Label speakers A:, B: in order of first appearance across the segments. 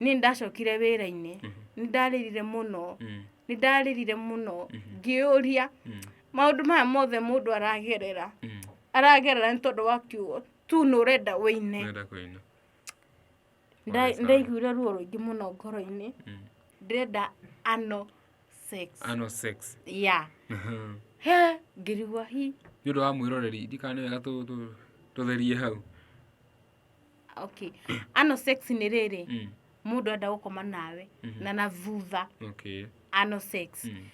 A: niĩ ndacokire wĩra-inĩ nĩ ndarĩrire mũno nĩ ndarĩrire mũno ngĩũria maũndũ maya mothe mũndũ aragerera aragerera nĩ tondũ wa kiugo tu nĩ ũrenda wĩine Nenda kũina. Nda- ndaiguire ruo rũingĩ mũno ngoro-inĩ ndĩrenda ano sex Ano sex. ya Nĩ he ngĩrigwo hi ũndũ wa mwĩroreri,
B: ndikane wega tũ- tũ- tũtherie hau.
A: okay ano sex nĩ rĩrĩ Mm. mũndũ enda gũkoma nawe na na thutha Okay. ano
B: sex Mm.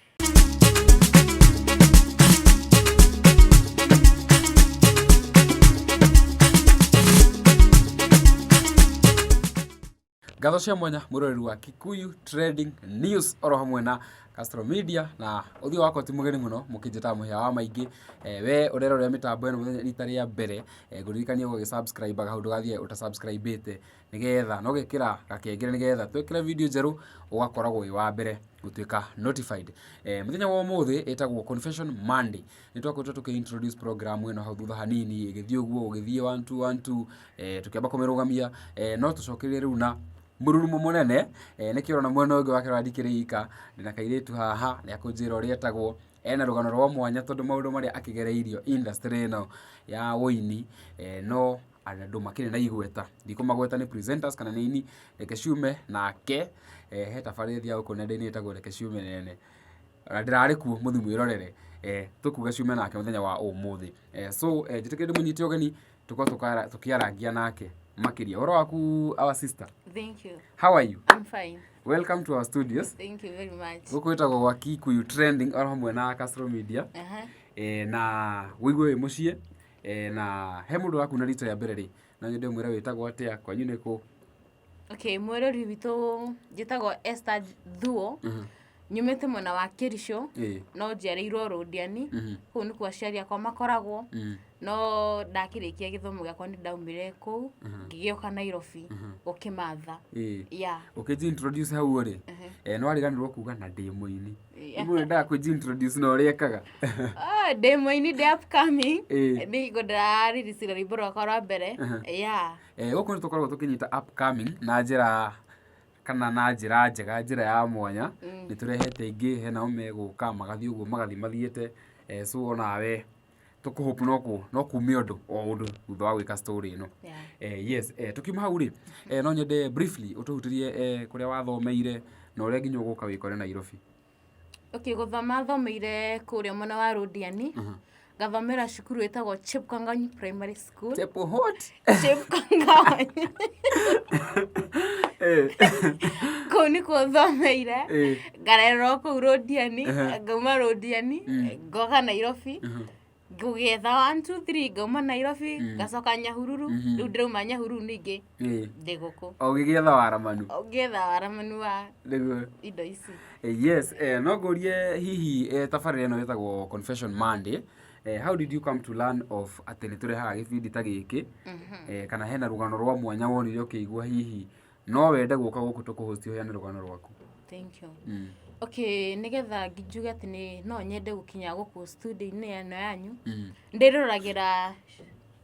B: Ngatho cia mwanya mũroreri wa Kikuyu Trading News oro hamwe na Castro Media na ũthiũ wakwa ti mũgeni mũno mũkĩnjĩtaga mũhĩa wa maingĩ eh, we ũrera ũrĩa mĩtambo ĩno mũthenya rita rĩa mbere eh, ngũririkania gũgĩsubscribe kaũndũ gathiĩ ũtasubscribĩte nĩgetha na ũgekĩra gakengere nĩgetha twekĩra video njerũ ũgakoragwo wĩ wa mbere gũtuĩka notified eh, mũthenya wa ũmũthĩ ĩtagwo confession monday nĩ twakoretwo tũkĩ introduce program ĩno hau thutha hanini ĩgĩthiĩ ũguo ũgĩthiĩ one two one two eh, tũkĩamba kũmĩrũgamia eh, no tũcokerie rĩu na mũrurumo mũnene eh, nĩkĩo na mwena ũngĩ wake randikĩrĩ ika ndĩna kairĩtu haha nĩ akũnjĩra ũrĩa etagwo ena rũgano rwa mwanya tondũ maũndũ marĩa akĩgereirio industry ĩno ya ũini eh, no andũ makĩrĩ na igweta ndikũmagweta nĩ presenters kana nĩ ini reke ciume nake eh, he tabarĩria gũkũ nenda-inĩ ĩtagwo reke ciume nene Ona ndĩrarĩ kuo mũthiĩ mwĩrorere eh, tũkuga ciume nake mũthenya wa ũmũthĩ eh, so eh, njĩtĩkĩre ndĩmũnyite ũgeni tũkorwo tũkara- tũkĩarangia nake makĩria ũhoro waku our sister Thank you. how
A: are you I'm
B: fine. welcome
A: to our studios
B: Thank you very much.
A: gũkũ ĩtagwo gwa kikuyu
B: trending oro hamwe na Castro media Aha. e, na wĩigue wĩ mũciĩ e, na he mũndũ ũrakuna rita rĩa mbere rĩ no nyende mwĩra wĩtagwo atĩa kwanyu nĩ kũ okay
A: mwĩrori witũ njĩtagwo Esther Thuo nyumĩte mwena wa Kĩricũ Ĩĩ. no njiarĩirwo Rũndiani kũu nĩkuo aciari akwa makoragwo no ndakĩrĩkia gĩthomo gĩakwa nĩ ndaumire kũu ngĩgĩũka Nairobi gũkĩmatha Ĩĩ. ya ũkĩnjintroduce
B: hau ũrĩ eh, nĩ wariganirwo kuga na ndĩ mũini Yeah. imwe ndaa kwĩnjintroduce na ũrĩa ekaga Ah, ndĩ
A: mũini ndĩ upcoming Ĩĩ. nĩ hingo ndĩrarĩricira rwĩmbo rwakwa rwa mbere ya Gũkũ nĩ tũkoragwo
B: tũkĩnyita upcoming na njĩra kana na njĩra njega, njĩra ya mwanya, nĩ tũrehete aingĩ, he nao megũka, magathiĩ ũguo magathiĩ mathiĩte, so o nawe tũ hope no kuume ũndũ o ũndũ thutha wa gwĩka story ĩno. Yes, tũkiuma hau rĩ, no nyende briefly ũtũhutĩrie kũrĩa wathomeire na ũrĩa nginya ũgũka wĩkore Nairobi. okay
A: gũthoma thomeire kũrĩa mwena wa rũndiani ngathomera cukuru ĩtagwo chepkangany primary school Tepo hot. chepkangany Eh, kũu nĩkuo thomeire eh, ngarererwo kũu rũndiani Aha. ngauma rũndiani ngoka nairobi aha. ngũgĩetha one two three ngauma nairobi mm. ngacoka nyahururu mm-hmm. rĩu ndĩrauma nyahururu ningĩ eh. ndĩ gũkũ o gĩgĩetha waramanu
B: ngĩetha waramanu wa indo ici
A: eh, yes eh, no
B: ngũrie hihi tabarĩra ĩno ĩtagwo confession monday eh, how did you come to learn of atĩ nĩ tũrehaga gĩbindi ta gĩkĩ mm-hmm. eh, kana hena rũgano rwa mwanya wonire ũkĩigua hihi no wende gũka gũkũ tũkũhosti ũheane rũgano rwaku thank you mm.
A: okay nigetha njuge atĩ nĩ no nyende gũkinya gũkũ studio-inĩ ĩno yanyu Mm. ndĩroragĩra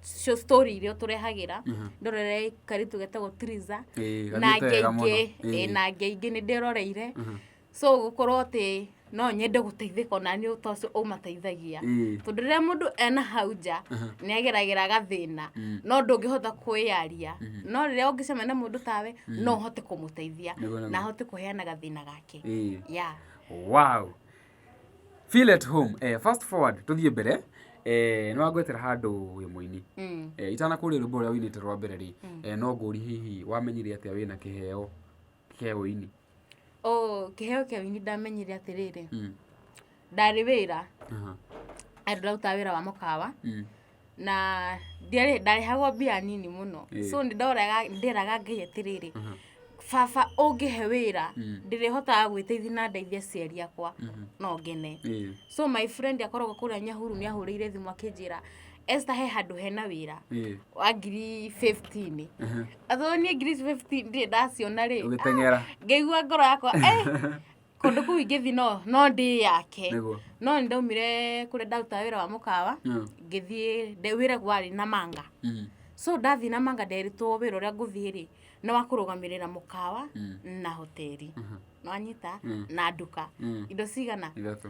A: cio story iria tũrehagĩra Mhm. ndorere karitũ getagwo triza Ĩĩ, na gathiĩte wega mũno. ngenge Ĩĩ. ĩĩ, na ngenge nĩ ndĩroreire Mhm. so gũkorwo atĩ no nyende gũteithĩka ona nĩ ũta ũcio ũmateithagia Mm. tondũ rĩrĩa mũndũ ena hau nja nĩ ageragĩra gathĩna no ndũngĩhota kwĩyaria no rĩrĩa ũngĩcemania na mũndũ tawe no ũhote kũmũteithia Nĩguo, nĩguo. na ahote kũheana gathĩna gake Ĩĩ. ya wow
B: feel at home eh, fast forward tũthiĩ mbere eh, nĩ wangwetera handũ wĩ mũini Mm. eh, itanakũria rwĩmbo rũrĩa wĩinĩte rwa mbere rĩ eh, no ngũri hihi wamenyire atĩa wĩna kĩheo kĩa ũini oh
A: kĩheo kĩa ũini ndamenyire atĩrĩrĩ Mm, ndarĩ wĩra aha, andũ ndĩrutaga wĩra wa mũkawa mm, na ndiarĩ ndarehagwo mbia nini mũno Ĩĩ. so nĩ ndoraga nderaga ngai atĩrĩrĩ aha, baba ũngĩhe wĩra Mm. ndĩrĩhotaga gwĩteithia na ndeithia aciari akwa mhm, no ngene ĩĩ, so my friend akoragwo kũrĩa nyahuru nĩ ahũrĩire thimũ akĩnjĩra Esther he handũ hena wĩra Ĩĩ. wa ngiri 15 Aha. atho niĩ ngiri 15 ndirĩ ndaciona rĩ Ũgĩteng'era. ngĩigua
B: ngoro yakwa
A: "Eh, kũndũ kũu ingĩthi no no ndĩ yake Nĩguo. no nĩ ndaumire kũrĩa ndarutaga wĩra wa mũkawa Mm. ngĩthiĩ ndĩ- wĩra warĩ na manga Mm. so ndathiĩ na manga nderitwo wĩra ũrĩa ngũthiĩ rĩ nĩ wa kũrũgamĩrĩra mũkawa Mm. na hoteli Mhm. nĩwanyita Mm. na nduka Mm. indo cigana Ithatũ.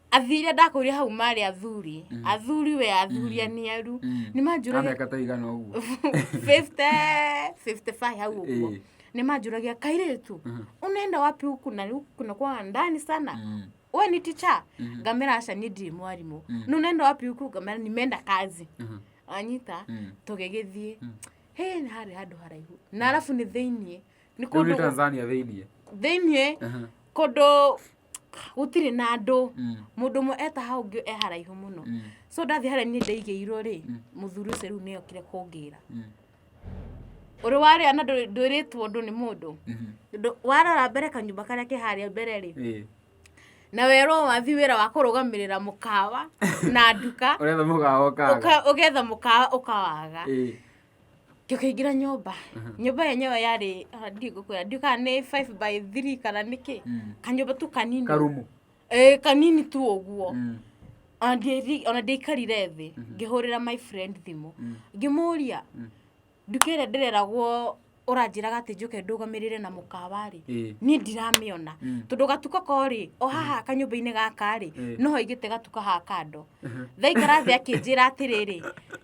A: athire ndakũria hau marĩ athuri mm. athuri we athuri mm. aniaru mm. nĩ manjũragia ta igana ũguo 50 55 hau ũguo nĩ manjũragia kairĩtu mm-hmm. unaenda wapi huku na kuna kwa ndani sana mm. we ni ticha mm-hmm. ngamera aca ni ndiri mwarimũ mm. nä unaenda wapi huku ngamera nimenda kazi mm-hmm. anyita mm. tũgĩgĩthiĩ mm. he nĩ harĩ handũ haraihu na arabu nĩ thĩiniĩ nĩ kũndũ Tanzania
B: thĩiniĩ thĩiniĩ kũndũ
A: gũtirĩ na andũ mm. mũndũ ũmwe eta hau ngĩ e haraihu mũno mm. so ndathi harĩa niĩ ndaigĩirwo rĩ mm. mũthuri ũcio rĩu nĩokire kũngĩra ũrĩ warĩa na ndwĩrĩtwo ũndũ nĩ mũndũ mm-hmm. warora mbere kanyũmba karĩa kĩ harĩa mbere rĩ na werwo wathi wĩra wa kũrũgamĩrĩra mũkawa na nduka ũgetha mũkawa ũkawaga tũkĩingĩra nyũmba nyũmba yenyewe yarĩ ah, ndiĩ ngũkwĩra ndiũ kana nĩ 5 by 3 kana nĩkĩ kanyũmba tu kanini karumu Eh,
B: kanini
A: tu ũguo Ona ndieri- ona ndĩikarire thĩ ngĩhũrĩra my friend thimũ ngĩmũria nduka ĩrĩa ndĩreragwo ũranjĩraga atĩ njũke ndũgamĩrĩre na mũkawa-rĩ Ĩĩ. niĩ ndiramĩona tondũ gatuka korĩ o haha kanyũmba-inĩ gaka-rĩ Ĩĩ. no haigĩte gatuka ha kando thaikara thĩ akĩnjĩra atĩrĩrĩ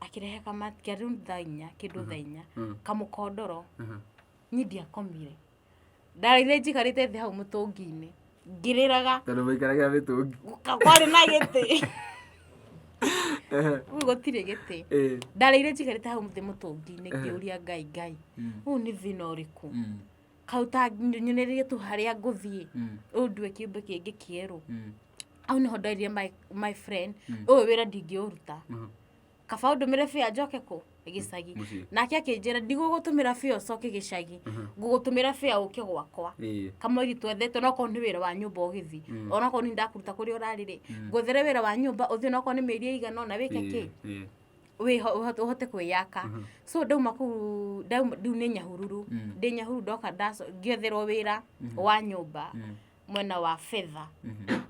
A: akĩrehe kama kĩarĩ thaa inya kĩndũ thaa inya kamũkondoro niĩ ndiakomire ndarĩire njikarĩte thĩ hau mũtũngi-inĩ ngĩrĩraga tondũ mũikaragia
B: mĩtũngi gũka- kwarĩ na gĩtĩ
A: Ehe, rĩu gũtirĩ gĩtĩ eh, ndarĩire njikarĩte hau thĩ mũtũngi-inĩ ngĩũria ngai ngai ũyũ nĩ thĩna ũrĩkũ mm. hau ta nyunĩrĩrie tu harĩa ngũthiĩ Mm. ũyũ ndue kĩũmbe kĩngĩ kĩerũ Mm. hau nĩho ndoirie my, my friend Mm. ũyũ wĩra ndingĩũruta Mhm. kaba ũndũmĩre bĩa njoke kũ gĩcagi Mũciĩ. nake akĩnjĩra ndigũgũtũmĩra bĩa ũcoke gĩcagi Mhm. ngũgũtũmĩra bĩa ũke gwakwa Ĩĩ. kamweri twethete onakorwo nĩ wĩra wa nyũmba ũgĩthi Mm. onakorwo nĩ ndakuruta kũrĩa ũrarĩrĩ Mm. ngwethere wĩra wa nyũmba ũthiĩ onakorwo nĩ mĩeri ĩigana ona wĩke kĩ Ĩĩ. Ĩĩ. wĩho- ũhote ũhote kwĩyaka Mhm. so ndauma kuu ndauma- rĩu nĩ nyahururu Mm. ndĩ nyahururu ndoka ndaco- ngĩetherwo wĩra Mhm. wa nyũmba Mm, mwena wa betha mhm,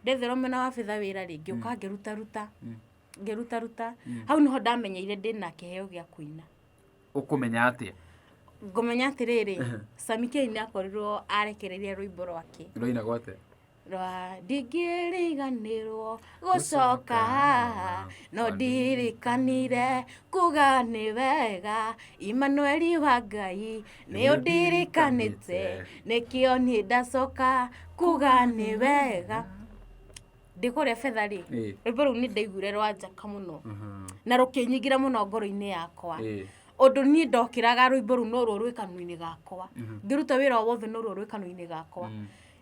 A: ndetherwo mwena wa betha wĩra rĩ ngĩũka ngĩrutaruta Mm. ngĩrutaruta Mm. hau nĩho ndamenyeire ndĩ na kĩheo gĩa kũina ũkũmenya
B: atĩa ngũmenya
A: atĩrĩrĩ samikei nĩ akorirwo arekereria rwĩmbo rwake rũina gwate
B: rwa
A: ndingĩriganĩrwo gũcoka no ndirikanire kuga nĩ wega imanueli wa ngai nĩ ũndirikanĩte nĩkĩo niĩ ndacoka kuga nĩ wega ndĩ kũrĩa betha rĩ Ĩĩ. rwĩmbo rũu nĩ ndaiguire rwa njaka mũno na rũkĩnyingĩra mũno ngoro-inĩ yakwa Ĩĩ. ũndũ niĩ ndokĩraga rwĩmbo rũu norwo rwĩ kanua-inĩ gakwa ngĩruta wĩra o wothe norwo rwĩ kanua-inĩ gakwa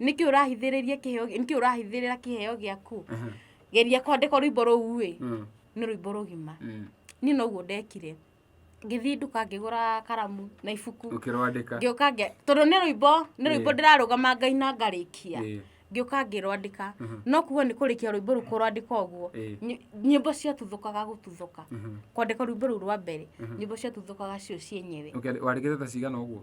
A: nĩkĩ ũrahithĩrĩria kĩheo nĩkĩ ũrahithĩrĩra kĩheo gĩaku geria kwandĩka rwĩmbo rũu ĩ Mm. nĩ rwĩmbo rũgima Mm. niĩ noguo ndekire ngĩthiĩ nduka ngĩgũra karamu na ibuku ũkĩrwandĩka ngĩũka ngĩ
B: tondũ nĩ
A: rwĩmbo nĩ rwĩmbo Ĩĩ. ndĩrarũgama ngai na ngarĩkia Ĩĩ. ngĩũka ngĩrwandĩka Mhm. no kuga nĩ kũrĩkia rwĩmbo rũu kũrwandĩka ũguo Ĩĩ. ny- nyĩmbo ciatuthũkaga gũtuthũka Mhm. kwandĩka rwĩmbo rũu rwa mbere nyĩmbo ciatuthũkaga cio cienyewe Ũkĩandĩ- wandĩkĩte ta cigana
B: ũguo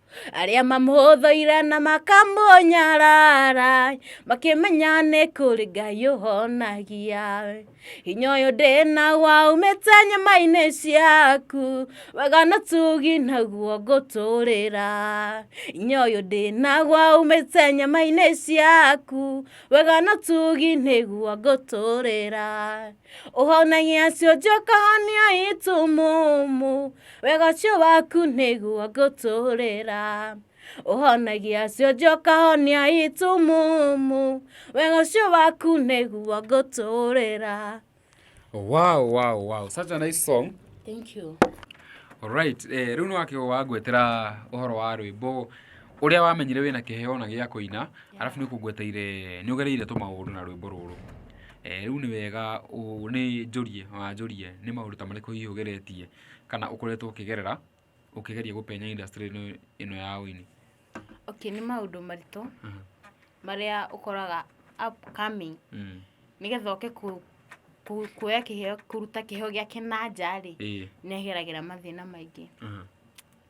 A: arĩa mamũhũthũire na makamũnyarara makĩmenya nĩ kũrĩ ngai ũhonagia hinya ũyũ ndĩna waumĩte nyama-inĩ ciaku wega na tugi naguo ngũtũrĩra hinya ũyũ ndĩna waumĩte nyama-inĩ ciaku wega na tugi nĩguo ngũtũrĩra ũhonagia ciũnjũ kahonia itumumu wega ũcio waku nĩguo ngũtũrĩra ũhonagia ciũnjũ kahonia itumumu wega ũcio waku nĩguo ngũtũrĩra wow
B: wow wow such a nice song thank
A: you Alright,
B: eh, rĩu nĩ wakĩgwo wangwetera ũhoro wa rwĩmbo ũrĩa wamenyire wĩna kĩheo na gĩa kũina arabu nĩ ũkũngweteire nĩ ũgereire tũmaũndũ na rwĩmbo rũrũ Rĩu nĩ wega nĩ njũrie, wanjũria nĩ maũndũ ta marĩkũ hihi ũgeretie kana ũkoretwo ũkĩgerera ũkĩgeria gũpenya industry -inĩ ĩno ya ũini? Okay nĩ
A: maũndũ maritũ marĩa ũkoraga upcoming nĩgetha oke kuoya kĩheo, kũruta kĩheo gĩake na nja rĩ, nĩ ageragĩra mathĩna maingĩ.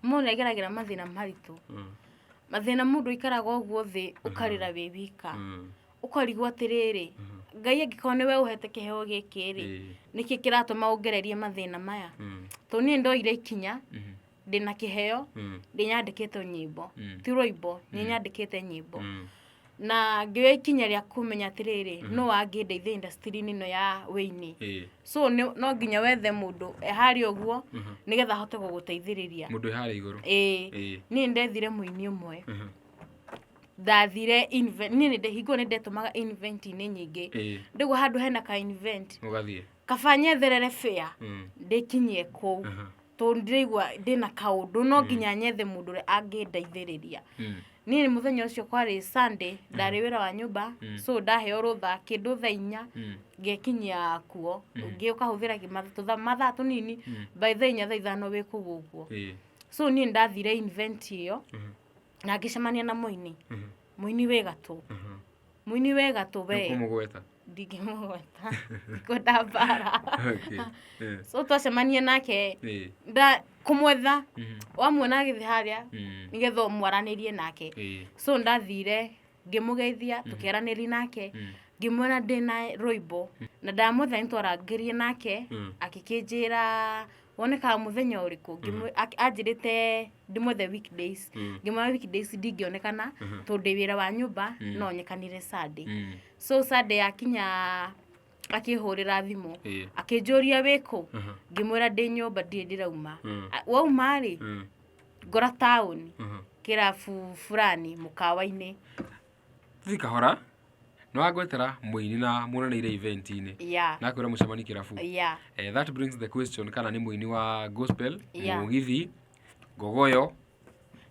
A: Mũndũ nĩ ageragĩra mathĩna maritũ. Mathĩna mũndũ ũikaraga ũguo thĩ ũkarĩra wĩ wika. ũkarigwo atĩrĩrĩ ngai angĩkorwo nĩwe ũhete kĩheo gĩkĩ rĩ Ĩĩ. nĩkĩ kĩratũma ũngererie mathĩna maya Mm. tondũ niĩ ndoire ikinya Mhm. ndĩna kĩheo Mm. nĩ nyandĩkĩte nyĩmbo Mm. ti rũimbo nĩ nyandĩkĩte nyĩmbo Mm. na ngĩoya ikinya rĩa kũmenya atĩrĩrĩ no wangĩndeithia industry-inĩ ĩno ya wĩini Ĩĩ. so nĩ- no nginya wethe mũndũ eharĩ ũguo Mhm. nĩgetha ahote gũgũteithĩrĩria mũndũ ĩharĩ igũrũ
B: ĩĩ Ĩĩ. niĩ
A: ndethire mũini ũmwe Mhm. ndathire inve- niĩ nĩ ndĩhingwo nĩ ndetũmaga invent-inĩ nyingĩ Ĩĩ. ndĩguo handũ hena ka invent Ũgathiĩ. kaba
B: nyetherere
A: bĩa Mm. ndĩkinyie kũu Aha. tondũ ndĩraigua ndĩna kaũndũ no nginya nyethe mũndũ ũrĩa angĩndeithĩrĩria Mm. niĩ mũthenya ũcio kwarĩ sunday ndarĩ wĩra wa nyũmba Mm. so ndaheo rũtha kĩndũ thaa inya Mm. ngekinyia kuo Mhm. ũngĩ ũkahũthĩra kĩ- matha- tũtha- mathaa tũnini Mm. by thaa inya thaa ithano wĩ kũu ũguo Ĩĩ. so niĩ ndathire invent ĩyo Mhm. na ngĩcemania na mũini mũini wĩ gatũ mũini wĩ gatũ we kũmũgweta ndingĩmũgweta kwenda mbara Okay. Eh, so twacemania nake eh, nda kũmwetha mhm, wamuona agĩthiĩ harĩa mm, nĩgetha mwaranĩrie nake eh, so ndathire ngĩmũgeithia tũkĩaranĩria nake mm, ngĩmuona ndĩ na rũimbo na ndamwetha nĩ twarangĩrie nake Mm. akĩkĩnjĩra wonekaga mũthenya ũrĩkũ Ngĩmwĩ- ak- anjĩrĩte ndĩmwethe weekdays Mm. ngĩmwona weekdays ndingĩonekana Mhm. tondũ ndĩ wĩra wa nyũmba Mm. no nyekanire sunday Mm. so sunday yakinya akĩhũrĩra thimũ Ĩĩ. akĩnjũria wĩkũ Mhm. ngĩmwĩra ndĩ nyũmba ndirĩ ndĩrauma Mm. A- wauma rĩ Mm. ngora taũni Mhm. kĩrabu fulani mũkawa-inĩ Tizi
B: Kahora nĩ wangwetera mũini na muonanĩire event inĩ Yeah. na akwĩra mũcemani kĩrabu Yeah. Eh, that brings the question kana nĩ mũini wa gospel Yeah. mũgithi ngogoyo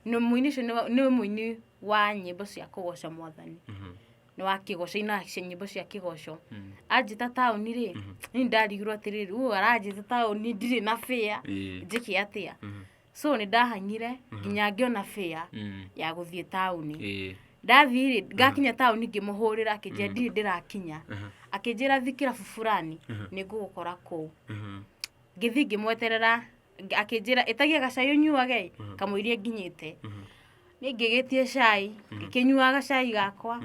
B: Nĩ
A: mũini ũcio nĩ- nĩ mũini wa nyĩmbo cia kũgoca mwathani Mhm. nĩ wa kĩgoco ina cia nyĩmbo cia kĩgoco Mm. anjĩta taũni rĩ nĩ ndarigirwo atĩrĩrĩ u aranjĩta taũni ndirĩ na bĩa Ĩĩ. njĩke atĩa Mhm. so nĩ ndahang'ire nginya ngĩona fĩa Mm. ya gũthiĩ taũni Ĩĩ. ndathiĩ ngakinya taũni ngĩmũhũrĩra akĩnjĩra ndirĩ ndĩrakinya Aha. akĩnjĩra thikĩra buburani nĩ ngũgũkora kũu Mhm. ngĩthiĩ ngĩmweterera ng- akĩnjĩra ĩtagia gacai ũnyuage kamũirie nginyĩte nĩ ngĩgĩtie cai ngĩkĩnyuaga gacai gakwa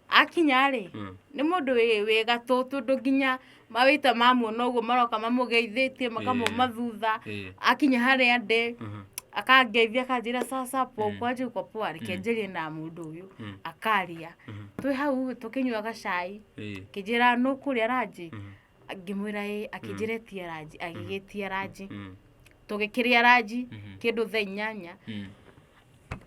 A: akinya-rĩ Mm. nĩ mũndũ wĩ wĩ gatũ tondũ nginya mawĩta mamuona ũguo maroka mamũgeithĩtie makamuma Ĩĩ. thutha Ĩĩ. akinya harĩa ndĩ Mhm. akangeithia akanjĩra sasa po Mm. kwanjia uko poa reke Mm. njarie na mũndũ ũyũ Mm. akaria Mhm. twĩ hau tũkĩnyuaga cai Ĩĩ. kĩnjĩra nũkũrĩa ranji Mhm. ngĩmwĩra ĩ akĩnjĩra ĩtia ranji agĩgĩtia ranji Mm. tũgĩkĩrĩa ranji Mhm. kĩndũ thaa inyanya Mm.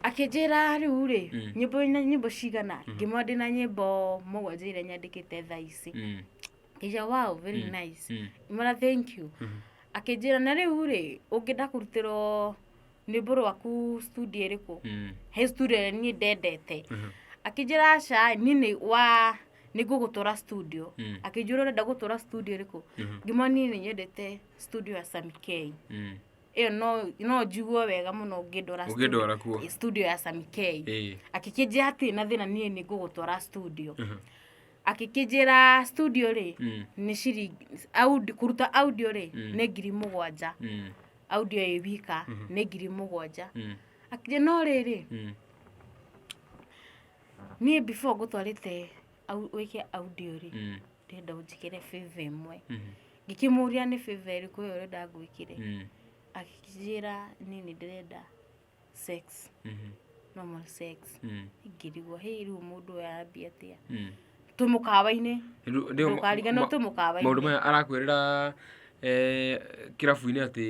A: akĩnjĩra rĩu rĩ Mm. nyĩmbo na nyĩmbo cigana ngĩmwĩra ndĩ na nyĩmbo mũgwanja iria nyandĩkĩte thaa ici Mm. ngĩja wow very Mm. nice Mm. mara thank you Mhm. akĩnjĩra na rĩu rĩ ũngĩenda kũrutĩrwo rwĩmbo rwaku studio ĩrĩkũ Mm. he studio ĩrĩa niĩ ndendete Mhm. akĩnjĩra aca niĩ nĩ wa nĩ ngũgũtwara studio Mm. akĩnjĩra ũrenda gũtwara studio ĩrĩkũ Mhm. ngima niĩ nĩ nyendete studio ya samikei Mm. ĩyo no- no njiguo wega mũno ngĩndwara Ũngĩndwara kuo. studio- studio ya samikei Eh. akĩkĩnjĩra atĩ na thĩna niĩ nĩ ngũgũtwara studio Mhm. akĩkĩnjĩra studio rĩ Mm. nĩ ciringi audi- kũruta audio rĩ Mm. nĩ ngiri mũgwanja Mm. audio ĩ wika nĩ ngiri mũgwanja Mm. akĩnjĩra no rĩrĩ Mm. niĩ before ngũtwarĩte au- wĩke audio rĩ Mm. ndĩrenda ũnjĩkĩre favor ĩmwe Mm. ngĩkĩmũria nĩ favor ĩrĩkũ ĩyo ũrenda ngwĩkĩre Mm. akĩnjĩra niĩ nĩ ndĩrenda sex Mhm. normal sex Mm. ingĩrigwo hĩĩ rĩu mũndũ ũyũ arambia atĩa Mm. twĩ mũkawa-inĩ Rĩu- rĩu- ndũkariganĩrwo ma- twĩ maũndũ mũkawa-inĩ maya arakwĩrĩra
B: eh, kĩrabu-inĩ atĩ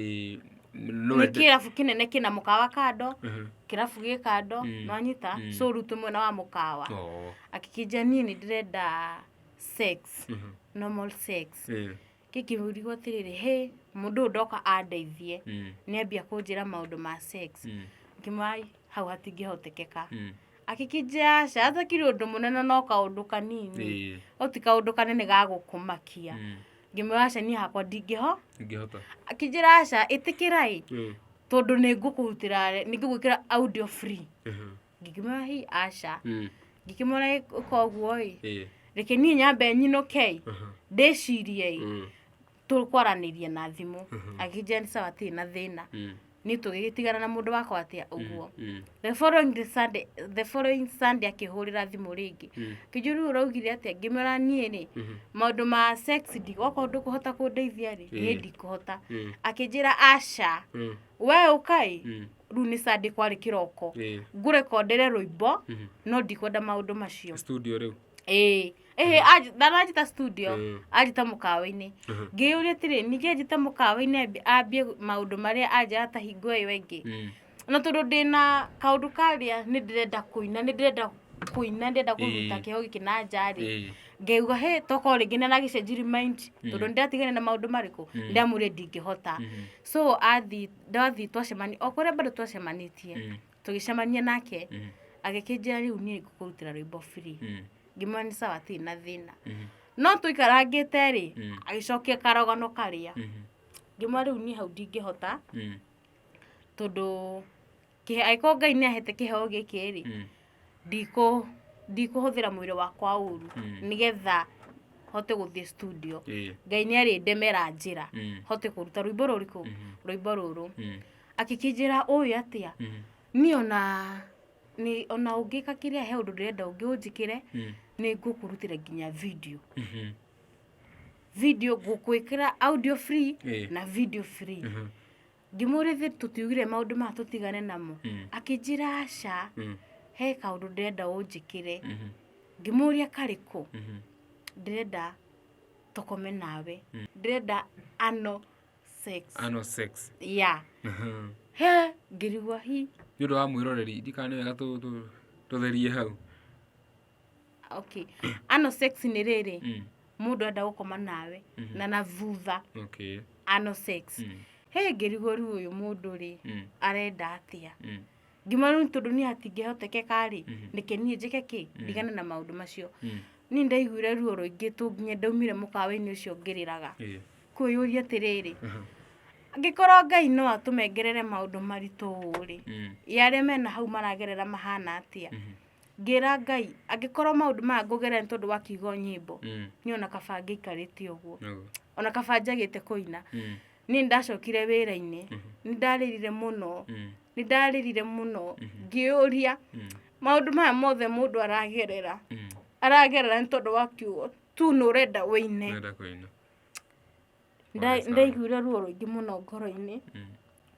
B: no nĩ ende-
A: kĩrabu kĩnene kĩna mũkawa kando Mhm. kĩrabu gĩ kando Mm. nwanyita Mm. so rutwe mwena wa mũkawa Oo. akĩkĩnja niĩ nĩ ndĩrenda sex Mhm. normal sex Eh. Kĩngĩmũrigwo atĩrĩrĩ, hĩ, mũndũ ũyũ ndoka andeithie, Mm. nĩ ambia kũnjĩra maũndũ ma sex. Mm. Ngĩmwĩra, "Ai, hau hatingĩhotekeka. Mm. Akĩkĩnjĩra, aca, hatakĩrĩ ũndũ mũnene no kaũndũ kanini. Ĩĩ. No ti kaũndũ kanene ga gũkũmakia. Mm. Ngĩmwĩra, aca, niĩ hakwa ndingĩho. Ingĩhota. Akĩnjĩra, aca, ĩtĩkĩra ĩ, Mm. tondũ nĩ ngũkũrutĩra, nĩ ngũgwĩkĩra audio free. Aha. ngĩkĩmwĩra hi aca Mm. ngĩkĩmwĩra "Ĩ- koguo ĩ Ĩ. reke niĩ nyambe nyinũke ĩ Mhm. ndĩcirie ĩ Mm. tũkwaranĩrie na thimũ Mhm. akĩnjĩra nĩ sawa atirĩ na thĩna Mm. niĩ tũgĩgĩtigana na mũndũ wakwa atĩa ũguo Mm. the following the sunday the following sunday akĩhũrĩra thimũ rĩngĩ Mm. kĩnjũ rĩu ũraugire atĩa ngĩmwĩra niĩ rĩ Mhm. maũndũ ma sex ndigokorwo ndũkũhota kũndeithia rĩ niĩ Ĩ. ndikũhota Mm. akĩnjĩra aca Mm. we ũkai Mm. rĩu nĩ sande kwarĩ kĩroko Ĩĩ. ngũrekondere rũimbo Mhm. no ndikwenda maũndũ macio studio rĩu
B: ĩĩ ĩhĩ anj- ndananjĩta
A: studio Ĩĩ. anjĩta mũkawa-inĩ Mhm. ngĩyũria atĩrĩ ningĩ anjĩta mũkawa-inĩ ambi- ambie maũndũ marĩa anjaga ta hingo ĩyo ĩngĩ Mm. na tondũ ndĩna kaũndũ karĩa nĩ ndĩrenda kũina nĩ ndĩrenda kũina ndĩrenda kũruta Ĩĩ. kĩho gĩkĩ na njarĩ Ĩĩ. ngeuga he tokorwo rĩngĩ nĩ aragĩcenjiri mind tondũ nĩ ndĩratigana na maũndũ marĩkũ ndĩramwĩrire ndingĩhota Mhm. so athi ndathiĩ twacemania o kũrĩa bado twacemanĩtie Mm. tũgĩcemania nake Mm. agĩkĩnjĩra rĩu niĩ ngũkũrutĩra rwĩmbo free Mm. ngĩmwĩra nĩ sawa atirĩ na thĩna Mhm. no tũikarangĩte rĩ Mm. agĩcokia karogano karĩa Mhm. ngĩmwĩra rĩu niĩ hau ndingĩhota Mm. tondũ kĩhe angĩkorwo ngai nĩ ahete kĩheo gĩkĩ rĩ Mm. ndikũ ndikũhũthĩra mwĩrĩ wakwa ũru Mm. nĩgetha hote gũthiĩ studio Ĩĩ. ngai nĩ arĩndemera njĩra Mm. hote kũruta rwĩmbo rũrĩkũ Mhm. rwĩmbo rũrũ Mm. akĩkĩnjĩra ũĩ atĩa Mm. niĩ ona nĩ ona ũngĩka kĩrĩa he ũndũ ndĩrenda ũngĩ ũnjĩkĩre Mm. nĩ ngũkũrutĩra nginya video Mhm. video ngũkwĩkĩra audio free Ĩĩ. na video free Mhm. ngĩmũũria ithuĩ tũtiugire maũndũ maya tũtigane namo Mm. akĩnjĩra aca Mm. he kaũndũ ndĩrenda ũnjĩkĩre Mhm. ngĩmũũria karĩkũ Mhm. ndĩrenda tũkome nawe Mm. ndĩrenda ano sex Anal sex. ya Mhm. he ngĩrigwa hi nĩ ũndũ wa mwĩroreri
B: ndikane wega tũ- tũ- tũtherie hau
A: okay ano sex nĩ rĩrĩ Mm. mũndũ enda gũkoma nawe Mhm. na na thutha Okay. ano sex Mm. he ngĩrigũru ũyũ mũndũ rĩ Mm. arenda atĩa Mm. ngiuma rĩu tondũ niĩ hatingĩhotekeka rĩ Mhm. nĩke niĩ njĩke kĩ Mhm. ndigane na maũndũ macio Mm. niĩ ndaiguire ruo rũingĩ tũ nginya ndaumire mũkawa-inĩ ũcio ngĩrĩraga Eh. kwĩyũria atĩrĩrĩ Aha. angĩkorwo ngai no atũmengerere maũndũ maritũ ũũ rĩ Mm. ya arĩa mena hau maragerera mahana atĩa Mhm. ngĩra ngai angĩkorwo maũndũ maya ngũgerera nĩ tondũ wa kiugo nyĩmbo Mm. niĩ ona kaba ngĩikarĩte ũguo Nĩguo. ona kaba njagĩte kũina Mm. niĩ nĩ ndacokire wĩra-inĩ nĩ ndarĩrire mũno Mm. nĩ ndarĩrire mũno ngĩũria Mm. maũndũ maya mothe mũndũ aragerera Mm. aragerera nĩ tondũ wa kiugo tu nĩ ũrenda wĩine Nenda kũina. Pole sana. ndaiguire ruo rũingĩ mũno ngoro-inĩ Mm.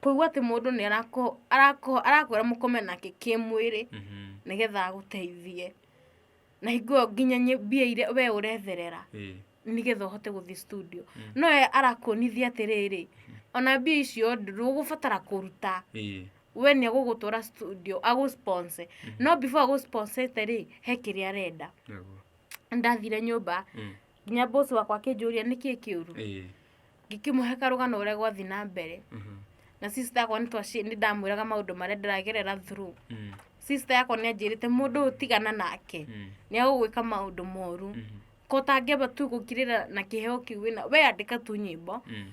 A: kũigua atĩ mũndũ nĩ arako- arako- arakwĩra mũkome nake kĩmwĩrĩ Mhm. nĩgetha agũteithie na hingo ĩyo nginya nyĩ- mbia iria we ũretherera Ĩĩ. nĩgetha ũhote gũthiĩ studio Mm. no we arakuonithia atĩrĩrĩ ona mbia icio ndũgũbatara kũruta Ĩĩ. we nĩ agũgũtwara studio agũsponse no before agũsponsete rĩ he kĩrĩa arenda Nĩguo. ndathire nyũmba Mm. nginya boss wakwa akĩnjũria nĩkĩ kĩũru ĩĩ ngĩkĩmũhe karũgano ũrĩa gwathi na mbere mhm, na sister yakwa nĩ twaci- nĩ ndamwĩraga maũndũ marĩa ndĩragerera through mm, sister yakwa nĩ anjĩrĩte mũndũ ũyũ tigana nake mm, nĩ agũgwĩka maũndũ moru mhm, ko ũtangĩamba tu gũkirĩra na kĩheo kĩu wĩna we andĩka tu nyĩmbo mm,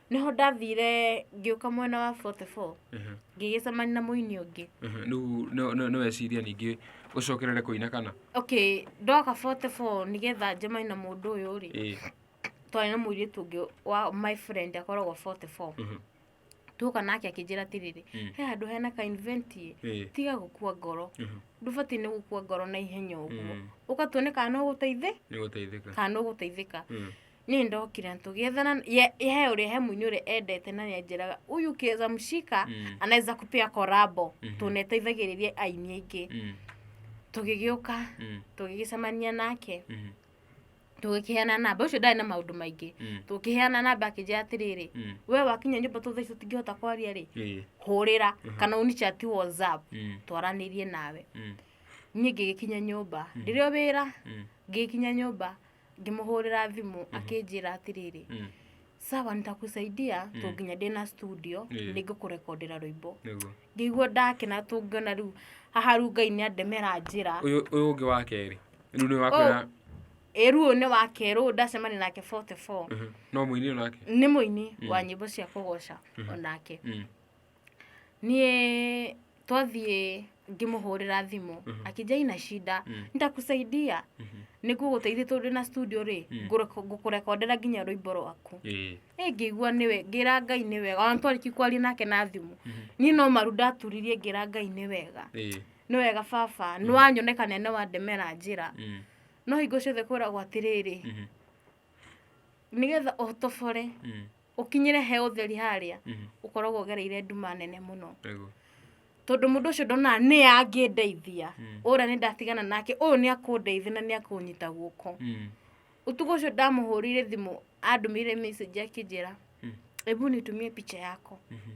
A: nĩho ndathire ngĩũka mwena wa 44 Ehe, ngĩgĩcemania na mũini ũngĩ ehe. Rĩu no- no-
B: noweciria ningĩ ũcokerere kũina kana okay ndoka
A: 44 nĩgetha njemani na mũndũ ũyũ rĩ Ĩĩ, twarĩ na mũirĩtu ũngĩ wa my friend akoragwo 44 mhm, tuoka nake akĩnjĩra atĩrĩrĩ Mm. he handũ hena ka invent ĩ ĩĩ, tiga gũkua ngoro mhm, ndũbatiĩ nĩ gũkua ngoro na ihenya ũguo mm, ũkatuone kana no ũgũteithĩ nĩgũteithĩka kana ũgũteithĩka Mm, niĩ ndokire tũgĩethana ye he ũrĩa he mũini ũrĩa endete na nĩanjĩraga uyu kieza mshika Mm. anaweza kupea korabo Mhm. tũneteithagĩrĩria aini aingĩ Mm, tũgĩgĩũka mm, tũgĩgĩcemania nake mm, tũgĩkĩheana namba ũcio ndarĩ na maũndũ maingĩ mm, tũkĩheana namba akĩnjĩra atĩrĩrĩ mm. we wakinya nyũmba tũ thaici tũtingĩhota kwaria rĩ Eh, hũrĩra Mhm. kana ũnichati whatsapp mm, twaranĩrie nawe mm, niĩ ngĩgĩkinya nyũmba ndĩrĩ o wĩra mm, ngĩgĩkinya nyũmba ngĩmũhũrĩra thimũ mm -hmm. akĩnjĩra atĩrĩrĩ mm. sawa nitakusaidia mm. -hmm. tũnginya ndĩna studio mm. -hmm. nĩngũkũrekondera rwĩmbo ngĩigua ndakena tũngĩona rĩu haha rĩu ngai nĩ andemera njĩra ũyũ ũngĩ wa kerĩ
B: rĩu nĩ wakwĩra Eru nĩ
A: wa kerũ ndacemania nake 44 mhm. no mũini onake
B: nĩ mũini wa
A: mm. nyĩmbo cia kũgoca mhm. onake mm. Niĩ twathiĩ ngĩmũhũrĩra thimũ akĩnjia ina shida nitakusaidia nĩngũgũteithia tondũ ndĩ na studio rĩ ngũreko- ngũkũrekondera nginya rwĩmbo rwaku ĩĩ ĩ ngĩigua nĩwe ngĩra ngai nĩ wega ona twarĩki kwaria nake na thimũ niĩ no maru ndaturirie ngĩra ngai nĩ wega ĩĩ nĩ wega baba nĩwanyoneka na nĩwandemera njĩra Mm. no hingo ciothe kwĩragwo atĩrĩrĩ nĩgetha ũtobore Mm. ũkinyĩre he ũtheri harĩa Mhm. ũkoragwo ũgereire nduma nene mũno Nĩguo. tondũ mũndũ ũcio ndonaga nĩ angĩndeithia Mm. ũrĩa nĩ ndatigana nake ũyũ nĩ akũndeithia na nĩ akũnyita guoko Mm. ũtukũ ũcio ndamũhũrĩire thimũ andũmĩire message akĩnjĩra Mm. ebu nitumie picha yako Mhm.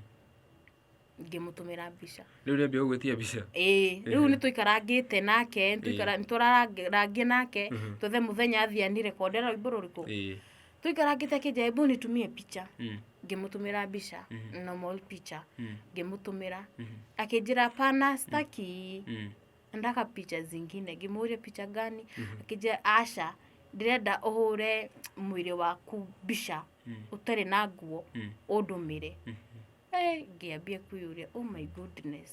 A: ngĩmũtũmĩra mbica rĩu rĩambia gũgwĩtia mbica
B: ĩĩ rĩu nĩ
A: tũikarangĩte nake nĩ tũikara- nĩ tũrarangia nake Mhm. twethe mũthenya athiĩ anirekode rwĩmbo rũrĩkũ Ĩĩ. tũikarangĩte akĩnja hebu nitumie picha Mm. ngĩmũtũmĩra mbica Mhm. normal picha Mm. ngĩmũtũmĩra Mhm. akĩnjĩra pana staki Mm. ndaka picha zingine ngĩmũria picha gani akĩnjĩra aca ndĩrenda ũhũre mwĩrĩ waku mbica Mm. ũtarĩ na nguo Mm. ũndũmĩre Mhm. Eh, ngĩambia kwĩyũria oh my goodness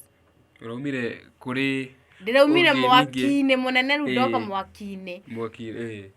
A: ũraumire
B: kũrĩ ndĩraumire Ũngĩ
A: mwaki-inĩ mũnene rĩu ndoka Ĩĩ. mwaki-inĩ mwaki eh,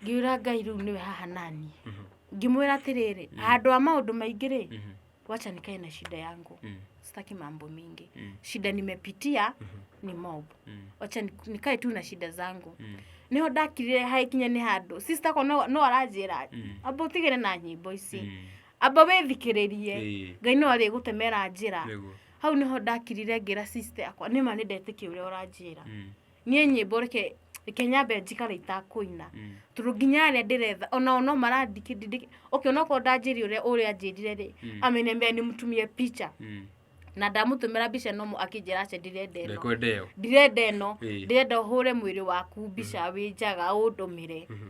A: ngiura ngai rĩu nĩwe haha nani mhm, ngĩmwĩra atĩrĩrĩ handũ wa maũndũ maingĩ rĩ mhm, wacha nikae na shida yangu mm, sitaki mambo mingi mm, shida nimepitia mhm, ni mob mm, wacha ni- nikae tu na shida zangu mm, niho ndakirire haikinya nĩ handũ sister ko no no aranjĩra mm, amba ũtigĩre na nyĩmbo ici mm, amba wĩthikĩrĩrie Ĩĩ. ngai no arĩgũtemera njĩra Nĩguo. hau nĩho ndakirire ngĩra sister yakwa nĩma nĩ ndetĩkia ũrĩa ũranjĩra Mm, niĩ nyĩmbo reke reke nyambe njikare itakũina mm. tondũ nginya arĩa ndĩretha onao no marandikĩ ndindĩkĩ okay onokorwo ndanjĩri ũrĩa ũrĩa anjĩrire rĩ Mm. amenemea nĩ mũtumie picha Mm. na ndamũtũmĩra mbica nomo akĩnjĩra aca ndirenda ĩno Ndekwenda ĩyo. ndirenda ĩno Ĩĩ. ndirenda ũhũre mwĩrĩ waku mbica wĩ njaga ũndũmĩre Mhm.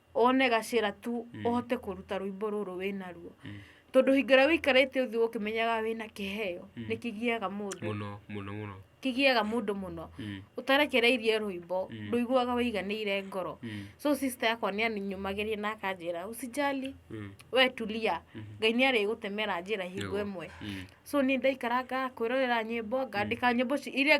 A: one gacĩra tu mm. ũhote kũruta rwĩmbo rũrũ wĩna ruo mm. tondũ hingo ĩrĩa wĩikarĩte ũthiũ ũkĩmenyaga wĩna kĩheo mm. nĩ kĩgiaga mũndũ mũno mũno mũno
B: kĩgiaga mũndũ
A: mũno mm. ũtarekereirie rwĩmbo mm. ndũiguaga wĩiganĩire ngoro mm. so sister yakwa nĩ anyumagĩria na akanjĩra usijali mm. we tulia mm. ngai nĩ arĩgũtemera njĩra hingo ĩmwe mm. so nĩ ndaikaranga kwĩrorera nyĩmbo ngandĩka mm. nyĩmbo iria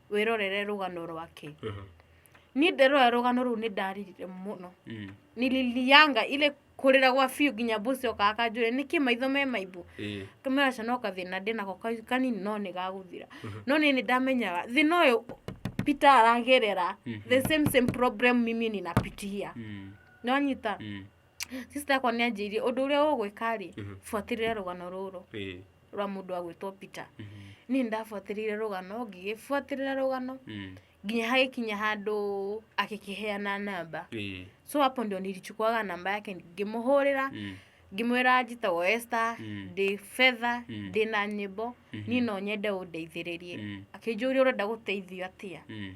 A: wĩrorere rũgano rwake Mhm. niĩ nderora rũgano rũu nĩ ndaririre mũno Mm. nililianga ile kũrĩra gwa biũ nginya mbuci okaga kanjũre nĩkĩ maitho me maimbu Eh. kamera cana kathĩna ndĩ nako ka- kanini no nĩ gagũthira no nĩ nĩ ndamenyaga thĩna ũyũ peter aragerera Mhm. the same same problem mimi ninapitia Mm. nĩwanyita Mm. Sister yakwa nĩ anjĩirie ũndũ ũrĩa ũgwĩka rĩ, buatĩrĩra rũgano rũrũ Ĩĩ. rwa mũndũ agwĩtwo Peter. Niĩ nĩ ndabuatĩrĩire rũgano, ngĩgĩbuatĩrĩra rũgano Mm. nginya hagĩkinya handũ agĩkĩheana namba. Ĩĩ. So hapo ndio nilichukuaga namba yake ngĩmũhũrĩra Mm. ngĩmwĩra njĩtagwo Esther Mm. ndĩ fedha Mm. ndĩ na nyĩmbo Mhm. niĩ no nyende ũndeithĩrĩrie Mm. akĩnjũria ũrenda gũteithio atĩa Mm.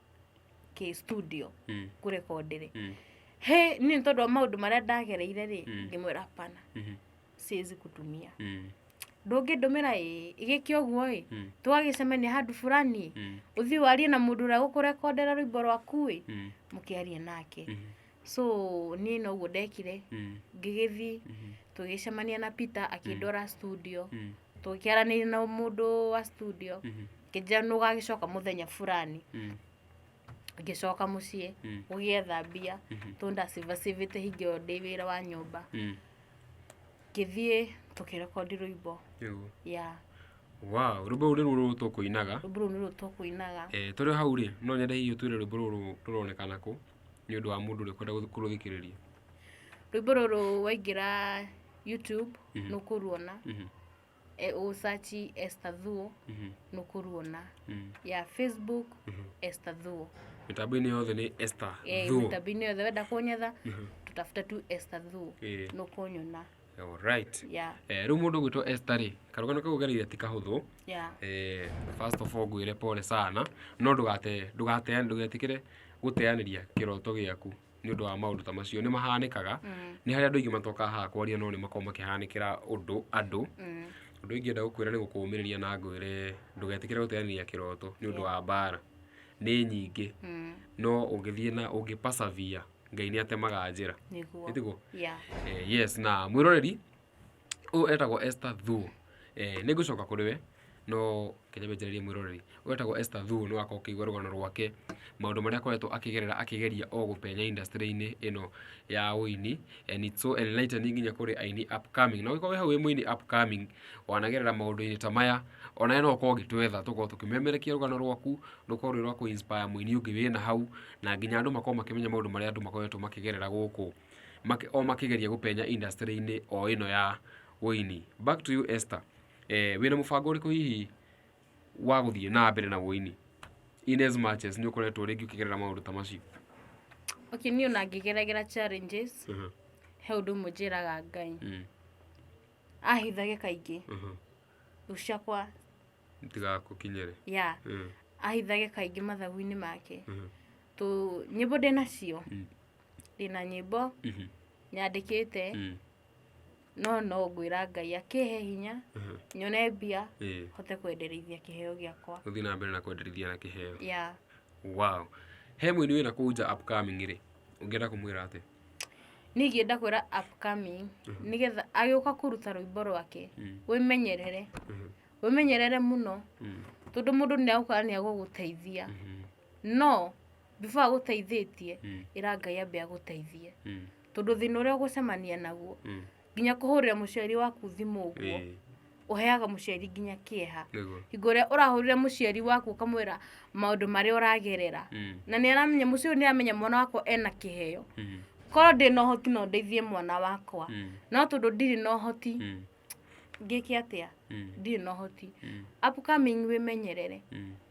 A: kĩ studio Mm. kũrekondi rĩ Mm. he niĩ nĩ tondũ wa maũndũ marĩa ndagereire rĩ Mm. ngĩmwĩra hapana Mhm. siwezi kutumia Mm. ndũngĩndũmĩra ĩ gĩkĩ ũguo ĩ Mm. twagĩcemania handũ fulani Mm. ũthiĩ warie na mũndũ ũrĩa gũkũrekondera rwĩmbo rwaku ĩ Mm. mũkĩarie nake Mhm. so niĩ noguo ndekire Mm. ngĩgĩthiĩ Mhm. tũgĩcemania na peter akĩndwara studio Mm. tũkĩaranĩria na mũndũ wa studio Mhm. ngĩnjĩra nĩ ũgagĩcoka mũthenya fulani Mm. ngĩcoka mũciĩ Mm. gũgĩetha mbia Mhm. tondũ ndacivacivĩte hingi ĩyo ndĩ wĩra wa nyũmba Mm. ngĩthiĩ tũkĩrekondi rũimbo Rĩu. ya Wow,
B: rwĩmbo rũu nĩruo rũrũ tũkũinaga rũmbu rũu nĩruo tũkũinaga Eh, tũrĩ o hau rĩ no nyende hihi ũtwĩre rwĩmbo rũrũ rũronekana kũ nĩ ũndũ wa mũndũ ũrĩa ũkwenda gũth- kũrũthikĩrĩria rwĩmbo
A: rũrũ waingĩra youtube Mhm. nĩ ũkũruona Mhm, e, ũsachi Esther Thuo mhm, nĩ ũkũruona mhm, ya facebook mhm. Esther Thuo mĩtambo-inĩ yothe nĩ
B: Esther Eh, Thuo. mĩtambo-inĩ yothe wenda
A: kũnyetha Mhm, tũtafuta tu Esther Thuo eh. nĩ ũkũnyona Alright.
B: Yeah. Eh, rĩu mũndũ gwĩtwo Esther rĩ karũgano kau gereire ti kahũthũ Yeah. eh, first of all ngwĩre pole sana no ndũgate ndũgate ndũgetikĩre gũteanĩria kĩroto gĩaku nĩ ũndũ wa maũndũ ta macio nĩ mahanĩkaga Mm. nĩ harĩa andũ aingĩ matokaga haha kwaria no nĩ makoragwo makĩhanĩkĩra ũndũ andũ Mm. ũndũ ingĩenda gũkwĩra nĩ gũkũũmĩrĩria na ngwĩre ndũgetikĩre gũteanĩria kĩroto nĩ ũndũ wa mbara nĩ nyingĩ Mm. no ũngĩthiĩ na ũngĩ persevere ngai nĩ atemaga njĩra nĩguo Nĩguo. yeah. Eh, yes na mwiroreri ũyũ etagwo Esther Thuo eh, nĩ ngũcoka kũrĩ we no kenya menjererie mwiroreri ũyũ etagwo Esther Thuo nĩ wakorwo kĩigua rũgano rwake maũndũ marĩa akoretwo akĩgerera akĩgeria o gũpenya industry-inĩ ĩno ya ũini and it's so enlightening nginya kũrĩ aini upcoming na ũngĩkorwo wĩ hau wĩ mũini upcoming wanagerera maũndũ-inĩ ta maya onawe no ũkorwo ũgĩtwetha tũkorwo tũkĩmemerekia rũgano rwaku rũkorwo rwĩ rwa kũ inspire mũini ũngĩ wĩna hau, na nginya andũ makorwo makĩmenya maũndũ marĩa andũ makoretwo makĩgerera gũkũ o makĩgeria gũpenya industry-inĩ o ĩno ya ũini. Back to you Esther, wĩna mũbango ũrĩkũ hihi wa gũthiĩ na mbere na ũini in as much as nĩ ũkoretwo rĩngĩ ũkĩgerera maũndũ ta macio? Okay,
A: niĩ ona ngĩgeragĩra challenges, he ũndũ ũmwe njĩraga Ngai, ahithage kaingĩ. gũcakwa
B: itigakũkinyĩre
A: ya Mm. ahithage kaingĩ mathagu-inĩ make Mhm. tũ nyĩmbo ndĩ nacio Mm. ndĩ na nyĩmbo Mhm. nyandĩkĩte Mm. no no ngwĩra ngai akĩhe hinya Mhm. nyone mbia Ĩĩ. hote kwenderithia kĩheo gĩakwa gũthiĩ na mbere na kwenderithia
B: na kĩheo ya
A: wow
B: he mũini wĩna kũu nja upcoming rĩ ũngĩenda kũmwĩra atĩ niĩ ingĩenda
A: kwĩra upcoming nĩgetha agĩũka kũruta rwĩmbo rwake wĩmenyerere wĩmenyerere mũno tondũ mũndũ nĩ agũka nĩ agũgũteithia no before agũteithĩtie ĩra Ngai ambe agũteithie tondũ thĩna ũrĩa ũgũcemania naguo nginya kũhũrĩra mũciari waku thimũ ũguo Ĩĩ, ũheaga mũciari nginya kĩeha nĩguo hingo ĩrĩa ũrahũrĩra mũciari waku ũkamwĩra maũndũ marĩa ũragerera Mm, na nĩ aramenya mũciĩ ũyũ nĩ aramenya mwana wakwa ena kĩheo mm, korwo ndĩ na ũhoti no ndeithie mwana wakwa mm, no tondũ ndirĩ na ũhoti mm, ngĩke atĩa mm, ndirĩ na ũhoti mm, upcoming wĩmenyerere mm.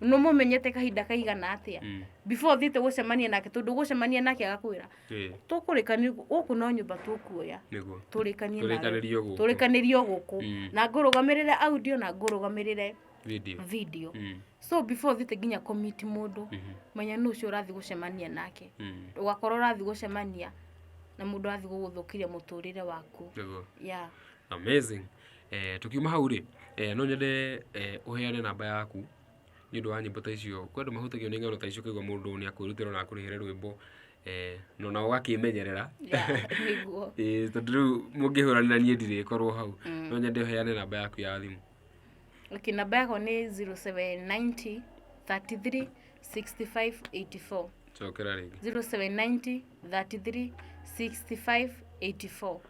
A: no mũmenyete kahinda kaigana atĩa Mm. before thiĩte gũcemania nake tondũ gũcemania nake agakwĩra Ĩĩ, tũkũrĩkania gũkũ no nyũmba tũkuoya nĩguo tũrĩkanie nawe. Tũrĩkanĩrie o gũkũ. tũrĩkanĩrie o gũkũ Mm. na ngũrũgamĩrĩre audio na ngũrũgamĩrĩre video video Mm, so before thiĩte nginya komiti mũndũ mhm, menya nũ ũcio ũrathiĩ gũcemania nake mm, ũgakorwo ũrathiĩ gũcemania na mũndũ arathiĩ gũgũthũkĩria mũtũrĩre waku nĩguo ya amazing
B: Tũkiuma hau rĩ, no nyende ũheane namba yaku nĩ ũndũ wa nyĩmbo ta icio. Kwĩ andũ mahutagio nĩ ng'ano ta icio ũkaigua mũndũ nĩ akwĩrutĩra ona akũrĩhĩre rwĩmbo na ona ũgakĩĩmenyerera.
A: Ĩĩ tondũ rĩu
B: mũngĩhũranĩra niĩ ndirĩkorwo hau. No nyende ũheane namba yaku ya thimũ. Okay, namba
A: yakwa nĩ 0790 33 65 84. Cokera rĩngĩ. 0790 33
B: 65
A: 84.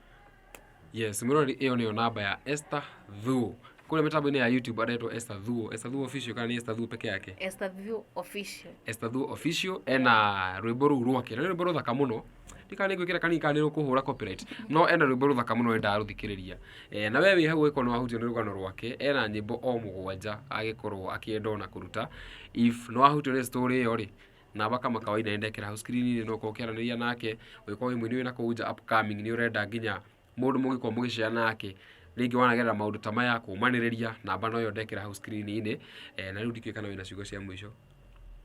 B: Yes, mũrori ĩyo nĩyo namba ya Esther Thuo. Kũrĩa mĩtambo-inĩ ya YouTube aretwo Esther Thuo. Esther Thuo official kana nĩ Esther Thuo peke yake? Esther View
A: Official. Esther Thuo official ena
B: rwĩmbo rũu rwake. Na nĩ rwĩmbo rũthaka mũno. Ndikana nĩngwĩkĩra kanini kana nĩ rũkũhũra copyright. No ena rwĩmbo rũthaka mũno wendaga rũthikĩrĩria. Eh, na we wĩ hau ũgĩkorwo nĩ wahutio nĩ rũgano rwake, ena nyĩmbo o mũgwanja agĩkorwo akĩenda ona kũruta. If nĩ wahutio nĩ story ĩyo rĩ, naba kama kawaida nenda ekera hau screen-inĩ no ũkorwo ũkĩaranĩria nake ũngĩkorwo wĩ mũini wĩna kũu nja upcoming nĩ ũrenda nginya mũndũ mũngĩkorwo mũgĩcea nake rĩngĩ wanagerera maũndũ ta maya kũmanĩrĩria namba no yo ndekera hau screen-inĩ eh, na rĩu ndikĩũĩ kana wĩna ciugo cia mũico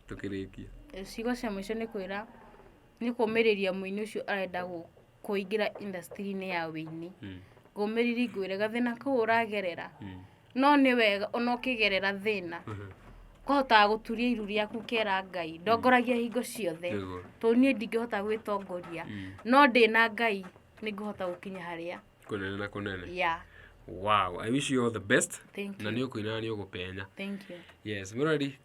B: tũkĩrĩkie ciugo cia
A: mũico nĩ kwĩra nĩ kũmĩrĩria mũini ũcio arenda gũ- kũingĩra industry-inĩ ya wĩini Mm. ngũmĩriri ngwĩre gathĩna kau ũragerera Mm. no nĩ wega ona ũkĩgerera thĩna Mhm. kũhotaga gũturia iru rĩaku kera ngai ndongoragia hingo ciothe Nĩguo. tondũ niĩ ndingĩhota gwĩtongoria Mm. no ndĩ na ngai nĩ ngũhota gũkinya harĩa Kũnene na kũnene.
B: ya
A: Wow, I wish
B: you all the best. Thank Na you. nĩ ũkũina na
A: nĩ ũgũpenya.
B: thank you
A: Yes, Murari,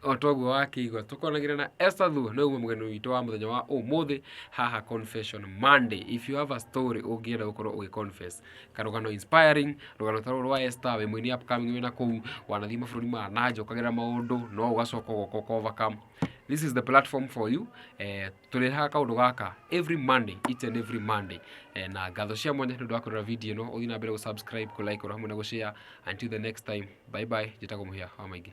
B: o toguo wakĩigua tũkonagĩra na Esther Thuo nĩ ũguo mũgeni witũ wa mũthenya wa ũmũthĩ haha Confession Monday if you have a story ũngĩenda gũkorwo ũgĩ confess karũgano inspiring rũgano ta rũrũ rwa Esther wĩ mũini upcoming wĩna kũu wanathiĩ mabũrũri ma na nja ũkagera maũndũ no ũgacoka ũgoka ũka overcome this is the platform for you eh, tũrehaga kaũndũ gaka every monday each and every monday eh, na ngatho cia mwanya nĩ ũndũ wa kũrora video ĩno ũthiĩ na mbere gũsubscribe kũlike oro hamwe na gũshare until the next time bye bye njĩtagwo mũhĩa wa maingĩ